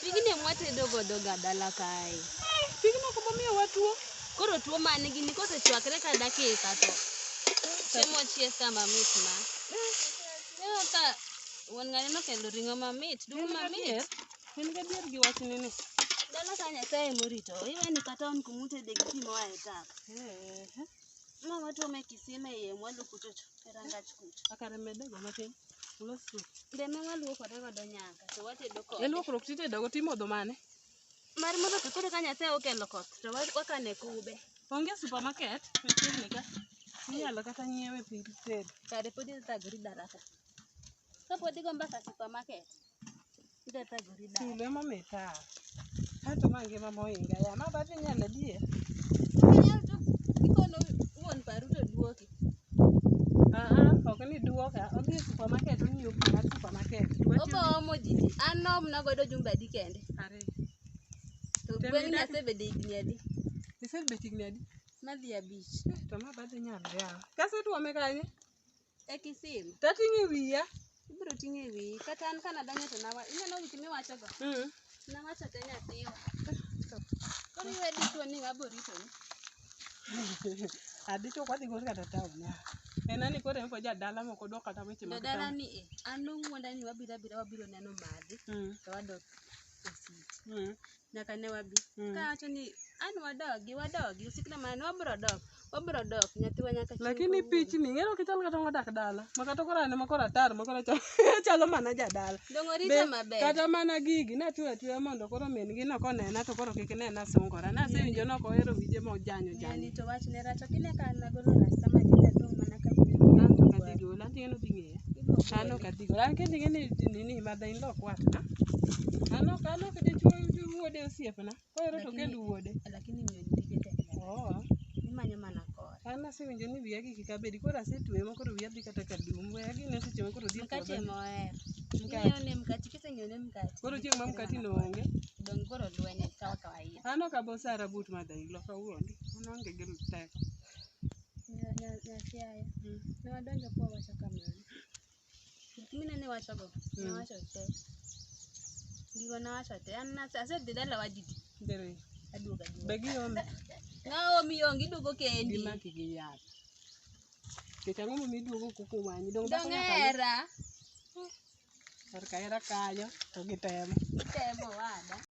Pigni mwatedo godo ga dala kae. Pigno kuma miyo watuo. Koro tuo man gini kosechwakre ka dakika to chiemo chiek ka mamit ma. Neno ka wuon ng'ani nokelo ring'o mamit, duong' mamit. In gadier gi wachni ni? Dala ka Nyasaye ema orito, iwe ni kata an kuma utede gi pi moa e tap. Eehe. Ma watuome e kisima e yie mwalo kuchocho, e rangach kucho. A kare medego matin. Ulos sup. Be ma waluokore godo nyaka, to watedo E kode. luokruok titedogo timodho mane? Mar modho to koro ka Nyasaye okelo koth, to wa- wakane kube. Onge supermarket machiegni ka. Inyalo kata nyiewe piny tedo. Kare pod ithagori daraka. Ka pod igomba ka supermarket, Idathagori dala. Tulo ema mita. Kato ma ngima moinga ya. Ma badhi nyalo die. Inyalo to ikono wuon paru to duoki. Aa, ok ni duoka. Odhi e supermarket onyiew pi mar supermarket. Obo omo jiji. An nom na godo jumbe adi kende. Are. To Tem gweng' ni idagi. asebede higni adi? Isebet higni adi? Madhi abich. To ma badhi nyalo ya. Kasetuome kanye? e kisim to ating'o e wiya ibiro ting'o e wiyi kata an ka nadonjo to nawa ineno weche miwachogo mm. nawacho te nyathiwa koro iwe dichuo ni ng'abo ritoni adichuo kwadhi gol kata taon en ani koro en jadala moko dwa kata weche mag jadala ni e an nong'wonda ni wabiro abira wabiro neno madhi mm. to wadok e sit mm. nyaka ne wabi Mm. kawacho ni an wadogi wadogi usikna mana ni wabro dok wabro dok nyathiwa nyaka chieng' lakini kawuono." pichni ng'ero kichal kata ngodak dala ma kata koro ane ma koro atar ma koro achal- achalo mana jadala dong orita Be- maber kata mana gigi natweyo atweya mondo koro min gi no konena to koro kik nena sungora nasewinjo nok ohero wije mojanyo Nyani janyo to wachne rach ok ine ka an nagolo rasta ma kinde dong' mana ka An to ka dhi gola, an to ing'e ni odhi ng'eya. An ok adhi godo. An kendo ing'e ni nini mother in law ok watna. An ok an ok dichwo wuode osiepna. Kohero to okend wuode. Lakini miyo ji tije tek. Oh. Imanyo mana kore. An asewinjo ni wiya gi kik abedi koro asetweye ma koro wiya dhi kata ka dum. Weya gi ne seche ma koro dhi e Mkate puodho. ema ohero. Mkate. Ing'eyo ne mkate, kiseng'eyo ne mkate. Koro chieng' ma mkati no onge. Dong' koro lweny kawa kawaida. An ok abo sara but mother in law kawuondi. An aonge gi teko. Nya- nya- Nyasiaya. Mm. Ne wadonjo kwa wacho kamano. Gik mineno iwachogo, Mm. nawacho te. Gigo nawacho te. An nase- asedhi dalawa didi, Dere. aduogo aduoga. Be giome? Naomi onge, iduogo kendi. Gimaki gi yath. Kech ang'o momiyo iduogo kuku wanyi? Dong' dhako Dong' nyaka ne- hera. Korka hera kanyo to gitemo. Itemo wada.